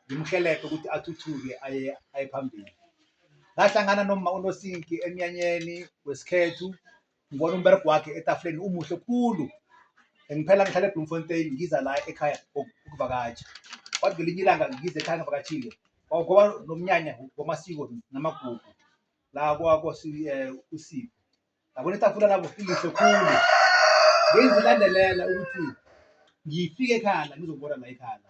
ngimhelebhe ukuthi athuthuke aye aye phambili ngahlangana noma unosinki emnyanyeni wesikhethu ngibona umberego wakhe etafuleni umuhle khulu ngiphela ngihlala ebloemfontein ngiza la ekhaya ukuvakatsha kwathi ngelinye ilanga ngize ekhaya ngivakatshile kwakuba nomnyanya wamasiko namagugu la kwakosipho eh, Yabona itafula labo lihle khulu. Bengizilandelela ukuthi ngifike ekhala ngizokubona la ekhala.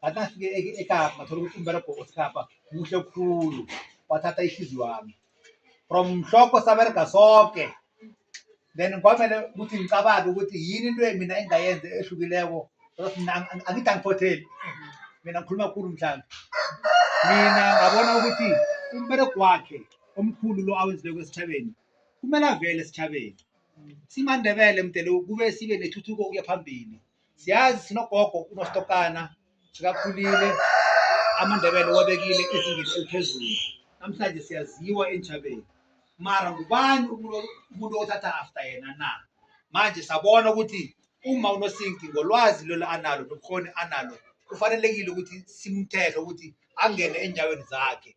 Ngathi nafike e- eKapa ngathola ukuthi umberego oseKapa muhle khulu. Wathatha ihliziyo yami. From mhlokho saberega soke. Then kwamele ukuthi ngicabange ukuthi yini into mina engayenza ehlukileko. Because mina ang- ang- angithi angiphotheli. Mina ngikhuluma khulu mhlambe. Mina ngabona ukuthi umberego wakhe omkhulu lo awenzileko esitjhabeni kumele avele esitjhabeni simandebele mdele kube sibe nethuthuko ukuya phambili siyazi sinogogo unostokana sikakhulile amandebele wabekile ezingeni eliphezulu namhlanje siyaziwa entjhabeni mara ngubani umuntu othatha after yena na manje sabona ukuthi uma unosinki ngolwazi lelo analo nobukhoni analo kufanelekile ukuthi simthethe ukuthi angene enyaweni zakhe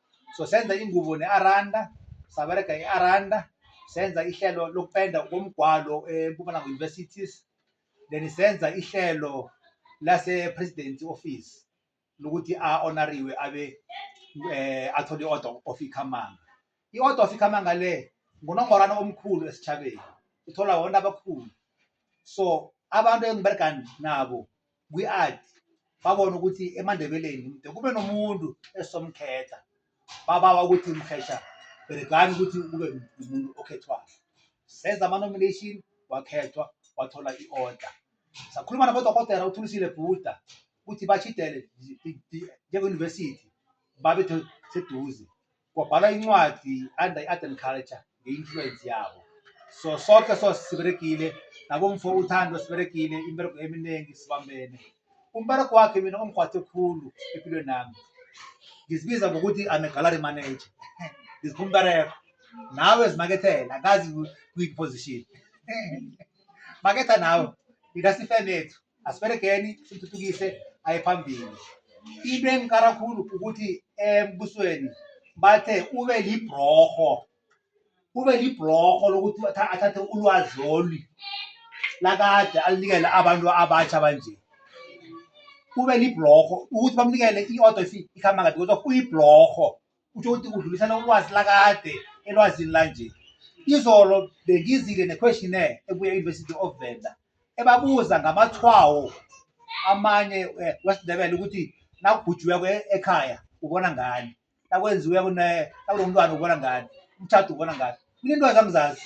so senza ingubo ne-aranda sabereka i-aranda senza ihlelo lokupenda komgwalo empumalanga universities then senza ihlelo lase-president office lokuthi a-onariwe abe um athole i-order of ikhamanga i-order of ikhamanga le ngunongorana omkhulu esitshabeni uthola wonke abakhulu so abantu engibereka nabo kwi-art babona ukuthi emandebeleni mde kube nomuntu esomkhetha babawa ukuthi mhesha bhekani ukuthi kube umuntu okhethwayo senza ama-nomination wakhethwa wathola i-order sakhuluma nabodokotela uthulisile bhuda ukuthi bashidele njenge-university babe seduze kwabhala incwadi under i-art and culture nge-influence yabo so soke so siberegile nakumfo uthando siberegile imberego eminingi sibambene umberego wakhe mina ongigwathe khulu empilweni nami ngizibiza ngokuthi I'm a gallery manager ngizipha umberego nawe zimakethela angazi kuyiphi position maketha nawe yina sifenethu asiberegeni sithuthukise aye phambili into engikara khulu ukuthi embusweni bathe ube libroho ube libroho lokuthi athathe ulwazi lolu lakade alinikele abantu abatsha banje ube libroho ukuthi bamnikele i-order ikhamba kade kodwa uyibroho kusho ukuthi udlulisela ulwazi lakade elwazini lanje izolo bengizile ne-questionnaire ebuya e-university of venda ebabuza ngamathwawo amanye eh, wesindebele ukuthi nakubhujiweko e-, ekhaya ubona ngani nakwenziweko nakulo mntwana ubona ngani umthatha ubona ngani mina into zangizazi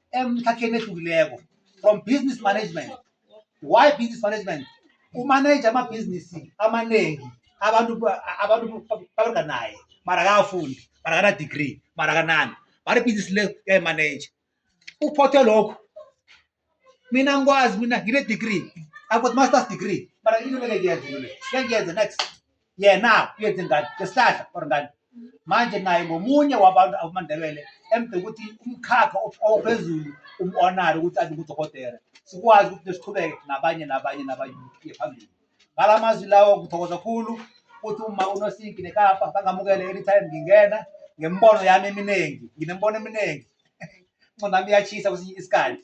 emkhakheni ehlukileko from business management why business management umanaje amabhizinisi amaningi abantu abantu baberga naye mara akafundi mara akana-degree mara akanani mara ibhizinisi le uyayimanaje uphothe lokho mina ngikwazi mina ngine-degree i've got master's degree mara into leke ngiyenze into le ngiyenze next yena uyenze ngani ngesihlahla or ngani manje naye ngomunye wabantu abamandebele emde ukuthi umkhakha ophezulu umonare ukuthi abe ngudokotela sikwazi ukuthi nesiqhubeke nabanye nabanye nabanye uye phambili ngala mazwi lawo ngithokoza khulu ukuthi uma unosinki nekapa bangamukele anytime ngingena ngembono yami eminingi nginembono eminingi ncondami iyachisa kwesinye isikhathi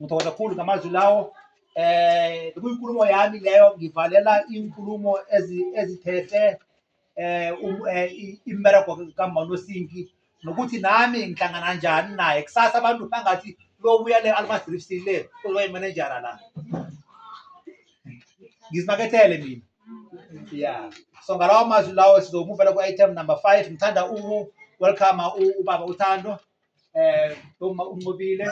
Ngithokoza kakhulu ngamazwi lawo eh kuyinkulumo yami leyo ngivalela inkulumo ezithethe eh, um, eh imbereko kaManosinki nokuthi nami ngihlangana kanjani naye kusasa abantu bangathi lobuya le Almas Drifts le uzoba imanejara la ngizimakethele mina yeah so ngalawo mazwi lawo sizomuvela ku-item number five ngithanda uku-welcome ubaba uthando eh uma unqobile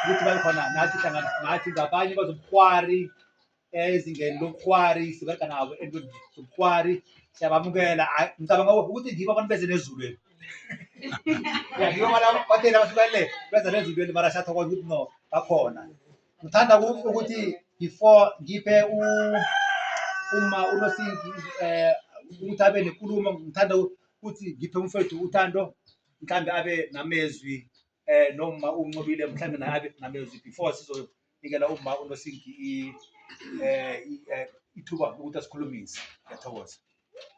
ukuthi bayikhona nathi hlangana nathi ngabanye bazobukhwari eh, ezingeni lobukhwari sibereka nabo entweni zobukhwari siyabamukela ngicabanga ukuthi ngibo abantu beze nezulweni ngibo batela bahlukele beza nezulweni mara siyathokoza ukuthi no bakhona ngithanda ukuthi before ngiphe uma unosingi um eh, ukuthi abe nenkulumo ngithanda ukuthi ngiphe umfethu uthando mhlawumbe abe namezwi eh noma uncobile mhlawumbe naye abe namezwi before sizonikela uma unosingi i- eh i- eh, ithuba lokuthi asikhulumise ngiyathokoza